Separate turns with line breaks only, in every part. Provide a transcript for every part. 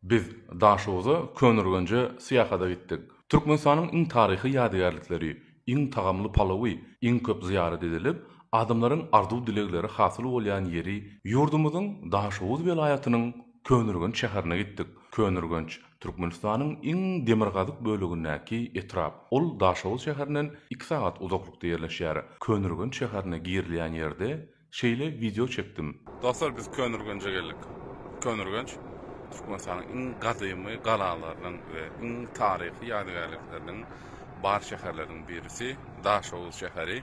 Biz Daşoguza Köneürgenje syýahada gitdik. Türkmenistanyň iň taryhy ýadygärlikleri, iň tagamly palawy, iň köp zyýarat edilip, adamlaryň arzuw-dilegleri hasyl bolýan ýeri, ýurdumyzyň Daşoguz welaýatynyň Köneürgenç şäherine gitdik. Köneürgenç, Türkmenistanyň iň demirgazyk bölegindäki etrap. Ol Daşoguz şäherinden iki sagat uzaklykda ýerleşýär. Köneürgenç şäherine girilýän ýerde, Şeýle wideo çekdim. Dostlar biz Köneürgenje geldik. Köneürgenç Türkmenistanyň iň gadymy galalarynyň we iň taryhy ýadygärlikleriniň bar şäherleriniň birisi, Daşoguz şäheri,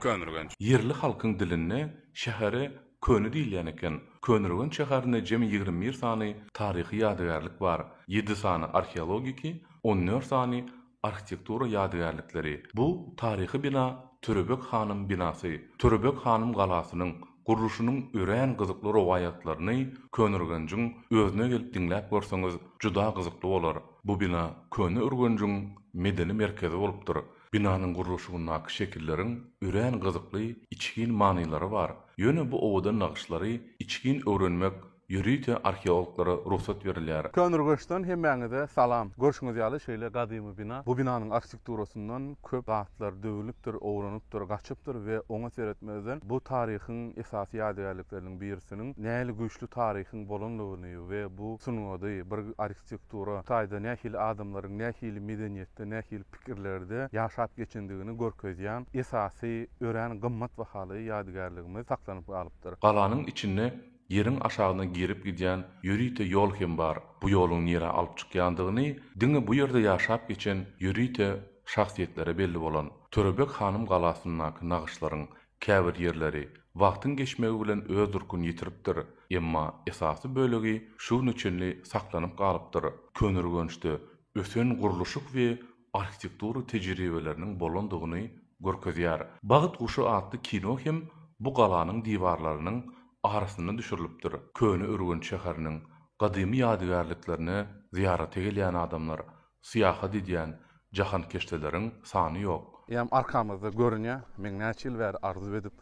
Köneürgenç. Ýerli halkyň dilinde şähere Köne diýilýän eken. Köneürgenç şäherinde jemi ýigrimi bir sany taryhy ýadygärlik bar, ýedi sany arheologiki, on dört sany Arhitektura ýadygärlikleri Bu taryhy bina Törebek hanyň binasy, Törebek hanyň galasynyň gurluşynyň örän gyzykly rowaýatlaryny Köneürgenjiň özüne gelip diňläp görseňiz juda gyzykly bolar. Bu bina Köneürgenjiň medeni merkezi bolupdyr. Binanyň gurluşygyndaky şekilleriň örän gyzykly içgin manylary bar. Ýöne bu owadan nagyşlary içgin öwrenmek Ýörite arheologlara rugsat berilýär. Köneürgençden hemmäňize salam. Görşüňiz ýaly şeýle gadymy bina. Bu binanyň arhitekturasyndon köp zatlar döwülipdir, owranypdyr, gaçypdyr we oňa seretmezden bu taryhyň esasy ýadygärlikleriniň birisiniň nähili güýçli taryhyň bolanlygyny we bu sungady, bir arhitektura taýda nähili adamlaryň nähili medeniýetde, nähili pikirlerde ýaşap geçendigini görkezýän esasy örän gymmat bahaly ýadygärligimiz saklanyp galypdyr. Galanyň içinde Ýeriň aşagyna girip gidýän ýörite ýol hem bar, bu ýoluň nirä alyp çykýandygyny diňe bu ýerde ýaşap geçen ýörite şahsyýetlere belli bolan Törebeg hanym galasyndaky nagyşlaryň käbir ýerleri wagtyň geçmegi bilen öz durkuny ýitiripdir, emma esasy bölegi şu güne çenli saklanyp galypdyr, köneürgençde ösen gurluşyk we arhitektura tejribeleriniň bolandygyny görkezýär. Bagt guşy atly kino hem bu galanyň diwarlarynyň arasyna düşürilipdir. Köneürgenç şäheriniň gadymy ýadygärliklerine zyýarata gelýän adamlar, syýahat edýän jahankeşdeleriň sany ýok. Eýýäm arkamyzda görünýär. Meň näçe ýyl bäri arzuw edip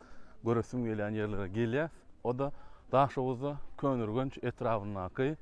göresim gelýän ýerlere gelýäs. O-da Daşoguzda Köneürgenç etrabyndaky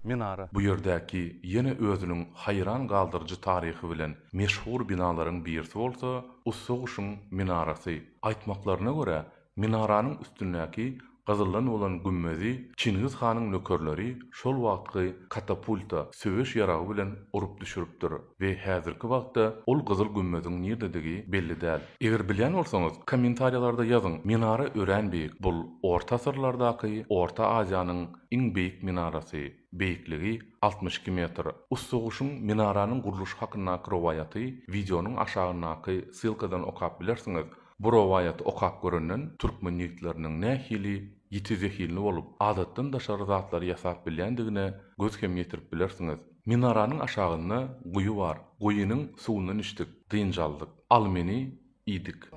Minara. Bu ýerdäki ýene özüniň haýran galdyryjy taryhy bilen meşhur binalaryň birisi bolsa Ussa guşuň minarasy. Aýtmaklaryna görä, minaranyň üstündäki gyzyldan bolan gümmezi Çingiz hanyň nökerleri şol wagtky katapulta, söweş ýaragy bilen urup düşüripdir we häzirki wagtda ol gyzyl gümmeziň nirdedigi belli däl. Eger bilýän bolsaňyz, kommentariýalarda ýazyň, minara örän beýik, bul orta asyrlardaky Orta Aziýanyň Iň beýik minarasy, beýikligi altmyş iki metr. Ussa guşuň minaranyň gurluşy hakyndaky rowaýaty wideonyň aşagyndaky ssylkadan okap bilersiňiz. Bu rowaýaty okap görenden türkmen ýigitleriniň nähili ýiti zehinli bolup, adatdan daşary zatlary ýasap bilýändigine göz hem ýetirip bilersiňiz. Minaranyň aşagynda guýy bar. Guýynyň suwundan içdik, dynç aldyk. Al meni, iýdik.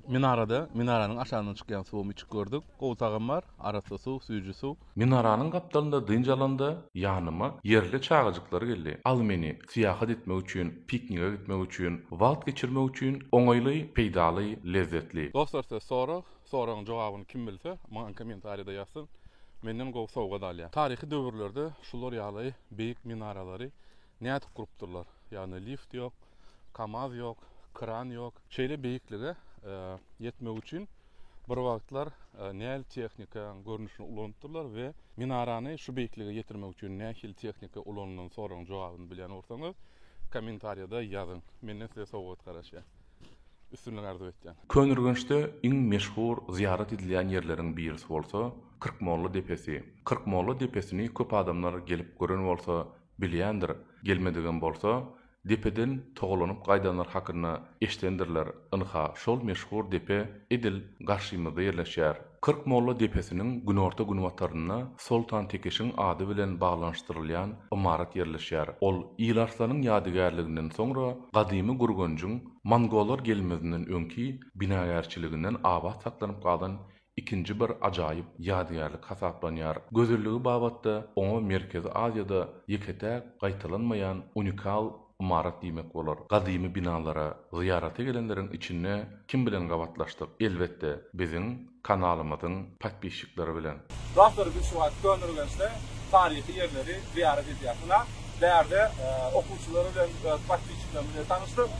Minarada minaranyň aşagyndan çykýan suwam içip gördük. Gowy tagam bar, arassa suw, süýji suw. Minaranyň gapdalynda dynç alanda ýanyma ýerli çagajyklar geldi. Al meni, syýahat etmek üçin, piknige gitmek üçin, wagt geçirmek üçin oňaýly, peýdaly, lezzetli. Dostlar size sorag, soragyň jogabyny kim bilse, maňa kommentariýada ýazsyn. Menden gowy sowgat alýar. Taryhy döwürlerde şular ýaly beýik minaralary Nädip gurupdyrlar? Ýagny lift ýok, kamaz ýok, kran ýok. Şeýle beýiklige ýetmek üçin bir wagtlar nähili tehnikanyň görnüşini ulanypdyrlar we minarany şu beýiklige ýetirmek üçin nähili tehnika ulanylan soragyň jogabyny bilýän bolsaňyz kommentariýada ýazyň. Menden size sowgat garaşýar. Üstünlik arzuw etýän. Köneürgençde iň meşhur zyýarat edilýän ýerleriň birisi bolsa Kyrkmolla depesi. Kyrkmolla depesini köp adamlar gelip gören bolsa Bilýändir, gelmedigem bolsa, depeden togalanyp gaýdanlar hakynda eşidendirler, ynha, şol meşhur depe edil garşymyzda ýerleşýär. Kyrk molla depesiniň günorta-günbatarynda Soltan Tekişiň ady bilen baglanyşdyrylýan ymarat ýerleşýär. Ol Ilarslan-yň ýadygärliginden soňra gadymy Gürgenjiň mongollar gelmezinden öňki binagärçiliginden abat saklanyp galan ikinji bir ajaýyp ýadygärlik hasaplanýar. Gözelligi babatda oňa Merkezi Aziýada ýeke-täk gaýtalanmaýan unikal ymarat diýmek bolar. Gadymy binalara zyýarata gelenleriň içinde kim bilen gabatlaşdyk? Elbetde, biziň kanalymyzyň podpisçikleri bilen. Dostlar, biz şu wagt Köneürgençde taryhy ýerleri zyýarat edýäs. Ynha, bärde okuwçylar bilen, öz podpisçiklerimiz bilen tanyşdyk.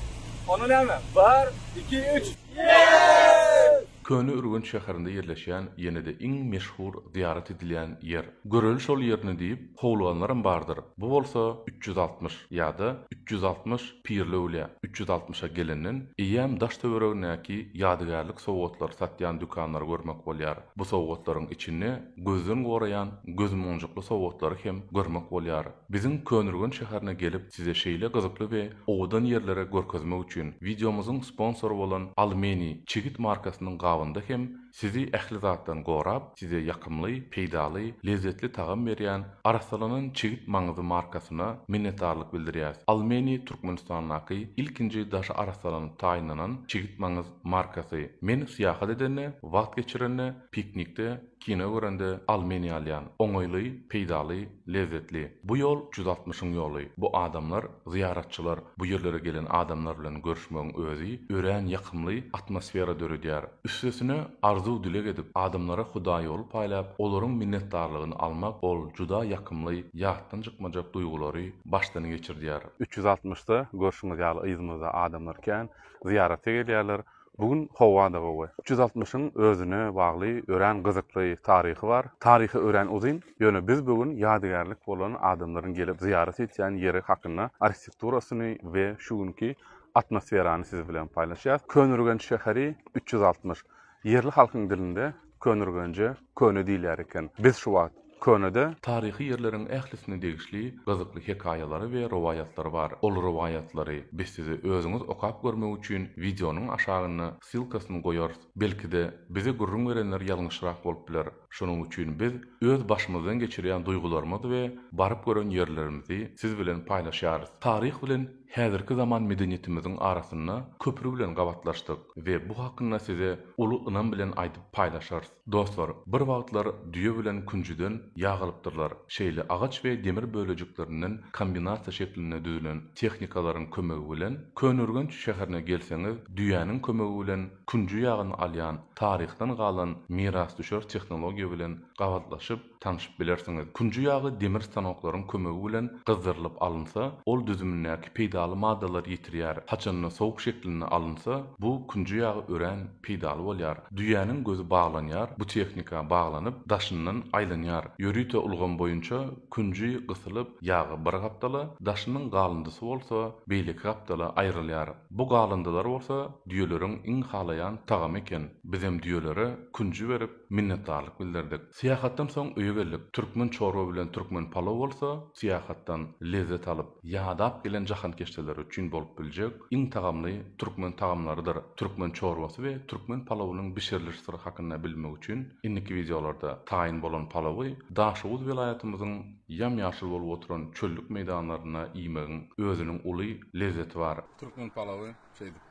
Onda näme? Bir, iki, üç! Ýeeeee! Köne Ürgenç şäherinde ýerleşýän ýene-de iň meşhur zyýarat edilýän ýer. Göreli şol ýerini diýip howluganlaram bardyr. Bu bolsa üç ýüz altmyş ýa-da üç ýüz altmyş Pirli öwlýä. Üç ýüz altmyşa gelenden eýýäm daş-töweregindäki ýadygärlik sowgatlary satýan dükanlary görmek bolýar. Bu sowgatlaryň içinde gözden goraýan gözmonjukly sowgatlary hem görmek bolýar. Biziň Köneürgenç şäherine gelip size şeýle gyzykly we owadan ýerleri görkezmek üçin wideomyzyň sponsory bolan Almeni çigit markasynyň gabynda hem sizi ähli zatdan gorap size ýakymly, peýdaly, lezzetli tagam berýän arassalanan çigit maňyzy markasyna minnetdarlyk bildirýäs Almeni Türkmenistandaky ilkinji daşy arassalanyp taýynlanan çigit maňyz markasy men syýahat edende wagt geçirende piknikde Kino görende al meni ýalýan. Oňaýly, peýdaly, lezzetli. Bu ýol jüz altmyşyň ýoly. Bu adamlar, zyýaratçylar, bu ýerlere gelen adamlar bilen görüşmegiň özi örän ýakymly atmosfera döredýär. Üstesine arzuw-dileg edip, adamlara hudaýýoly paýlap, olaryň minnetdarlygyny almak ol juda ýakymly, ýatdan çykmajak duýgulary başdan geçirdýär. Üç ýüz altmyşda görşüňiz ýaly yzymyzda adamlar kän zyýarata gelýärler. Bu gün howa-da gowy. Üç ýüz altmyşyň özüne bagly örän gyzykly taryhy bar. Taryhy örän uzyn, ýöne biz bu gün ýadygärlik bolan adamlaryň gelip zyýarat etýän ýeri hakynda, arhitekturasyny we şu günki atmosferany siz bilen paýlaşýas. Köneürgenç şäheri üç ýüz altmyş. Ýerli halkyň dilinde Könürgenje köne diýilýär eken. Biz şu wagt könede. Taryhy ýerleriň ählisine degişli gyzykly hekaýalary we rowaýatlary bar. Ol rowaýatlary biz size özüňiz okap görmek üçin wideonyň aşagynda ssylkasyny goýarys. Belki-de, bize gürrüň berenler ýalňyşrak bolup biler. Şonuň üçin biz öz başymyzdan geçirýän duýgularymyzy we baryp gören ýerlerimizi siz bilen paýlaşýarys. Taryh bilen. Häzirki zaman medeniýetimiziň arasynda köpri bilen gabatlaşdyk we bu hakynda size uly ynam bilen aýdyp paýlaşarys. Dostlar, bir wagtlar düýe bilen künjüden ýag alypdyrlar. Şeýle agaç we demir bölejiklerinden kombinasiýa şeklinde düzülen tehnikalaryň kömegi bilen Köneürgenç şäherine gelseňiz, düýäniň kömegi bilen künji ýagyny alýan taryhdan galan mirasdüşer tehnologiýa bilen gabatlaşyp, tanşyp bilersiňiz. Künji ýagy demir stanoklaryň kömegi bilen gyzdyrylyp alynsa, ol düzümindäki peýdaly maddalary ýitirýär. Haçanda sowuk şeklinde alynsa, bu künji ýagy örän peýdaly bolýar. Düýäniň gözi baglanýar, bu tehnika baglanyp, daşyndan aýlanýar. Ýörite ulgam boýunça künji gysylyp, ýagy bir gapdala, daşynyň galyndysy bolsa beýleki gapdala aýrylýar. Bu galyndylar bolsa düýeleriň iň halaýan tagamy eken. Bizem düýelere künji berip, Minnetdarlyk bildirdik. Syýahatdan soň öýe geldik. Türkmen çorba bilen türkmen palow bolsa, syýahatdan lezzet alyp, ýadap gelen jahankeşdeler üçin bolup biljek iň tagamly türkmen tagamlarydyr. Türkmen çorbasy we türkmen palowynyň bişiriliş syry hakynda bilmek üçin indiki wideolarda taýyn bolan palowy Daşoguz welaýatymyzyň ýam-ýaşyl bolup oturan çöllük meýdanlarynda iýmegiň özüniň uly lezzeti bar. Türkmen palowy şeýdip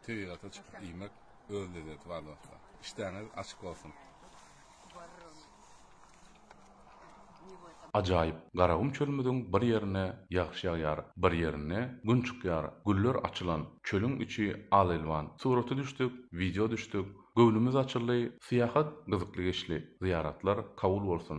tebigata çykyp iýmek Öz lezzeti bar dostlar. İşdäňiz açyk bolsun. Ajaýyp Garagum çölümiziň bir ýerine ýagyş ýagýar, bir ýerinde Gün çykýar, güller açylan, çölüň içi al-elwan, suraty düşdük, wideo düşdük, göwnümiz açyldy, syýahat gyzykly geçdi, zyýaratlar kabul bolsun.